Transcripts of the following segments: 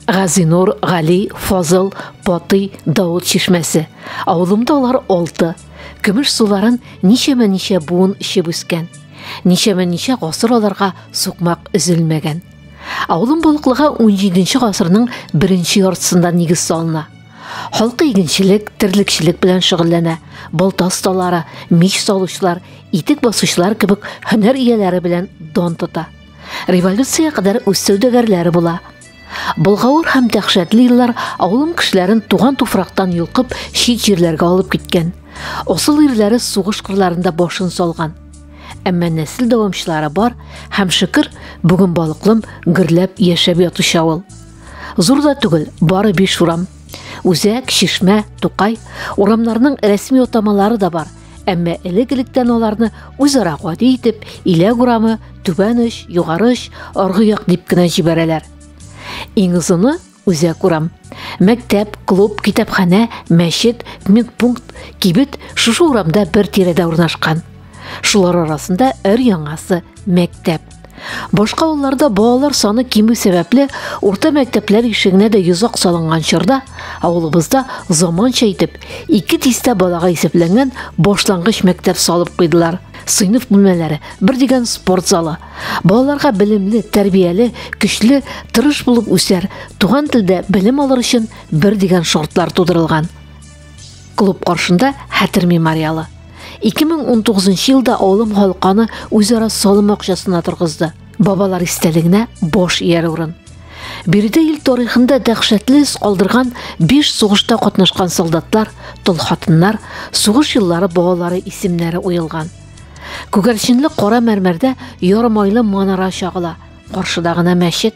Газинур, Гали, Фазыл, Патый, Дауд чишмәсе. Авылымда алар алты. Көмеш суларын ничәмә-ничә буын эчеп үскән. Ничәмә-ничә гасыр аларга сукмак өзелмәгән. Авылым Болыклыга 17-нче гасырның беренче яртысында нигез салына. Халкы игенчелек, терлекчелек белән шөгыльләнә. Балта осталары, мич салучылар, итек басучылар кебек һөнәр ияләре белән дан тота. Революциягә кадәр үз сәүдәгәрләре була. Былгавыр һәм дәхшәтле еллар авылым кешеләрен туган туфрактан йолкып, чит җирләргә алып киткән. Асыл ирләре сугыш кырларында башын салган. Әмма нәсел дәвамчылары бар һәм шөкер, бүген балыклым гөрләп яшәп ятучы авыл. Зур да түгел, бары биш урам. Үзәк, Чишмә, Тукай урамнарының рәсми атамалары да бар – Әмма элек-электән аларны үзара гади итеп Иләк урамы, Түбән оч, Югары оч, Аргы як дип кенә җибәрәләр. Иң озыны Үзәк урам. Мәктәп, клуб, китапханә, мәчет, медпункт, кибет шушы урамда бер тирәдә урнашкан. Шулар арасында өр яңасы мәктәп. Башка авылларда балалар саны кимү сәбәпле урта мәктәпләр ишегенә дә йозак салынган чорда авылыбызда заманча итеп ике дистә балага исәпләнгән башлангыч мәктәп салып куйдылар. Сыйныф бүлмәләре, бер дигән спорт залы. Балаларга белемле, тәрбияле, көчле, тырыш булып үсәр, туган телдә белем алыр өчен бер дигән шартлар тудырылган. Клуб каршында хәтер мемориалы. 2019 елда авылым халканы үзара салым акчасына торгызды. Бабалар истәлегенә бош ияр урын. Биредә ил тарихында дәһшәтле эз калдырган 5 сугышта катнашкан солдатлар, тол хатыннар, сугыш еллары балалары исемнәре уелган. Күгәрченле кара мәрмәрдә ярымайлы манара чагыла. Каршыда гына мәчет.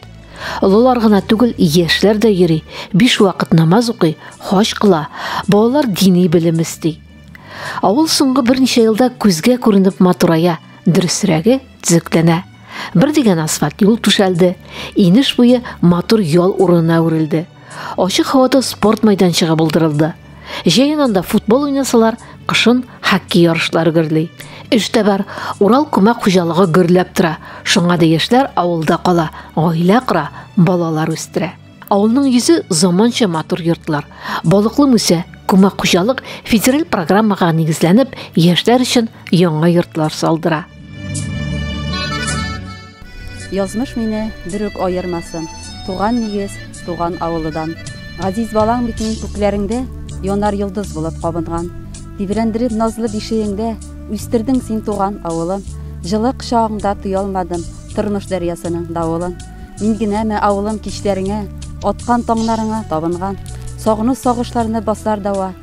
Олылар гына түгел, яшьләр дә йөри, биш вакыт намаз укый, хаҗ кыла, балалар дини белем өсти. Авыл соңгы берничә елда күзгә күренеп матурая, дөресрәге төзекләнә. Бер дигән асфальт юл түшәлде, инеш буе матур ял урынына үрелде. Ачык һавада спорт майданчыгы булдырылды. Җәен анда футбол уйнасалар, кышын хоккей ярышлары гөрли. Эштә бар, Урал күмәк хуҗалыгы гөрләп тора. Шуңа да яшьләр авылда кала, гаилә кора, балалар үстерә. Авылның йөзе заманча матур йортлар. Балыклы мүсә, күмәк хуҗалык федераль программага нигезләнеп, яшьләр өчен яңа йортлар салдыра. Язмыш мине бер үк аермасын, Туган нигез, туган авылыдан. Газиз балаң бит мин күкләреңдә, Янар йолдыз булып кабынган. Тибрәндереп назлы бишегеңдә, Үстердең син туган авылым. Җылы кочагыңда тоялмадым, Тормыш дәрьясының давылын. Мин генәме авылым кичләреңә, Аткан таңнарыңа табынган? Сагыну сагышларны басар дәва.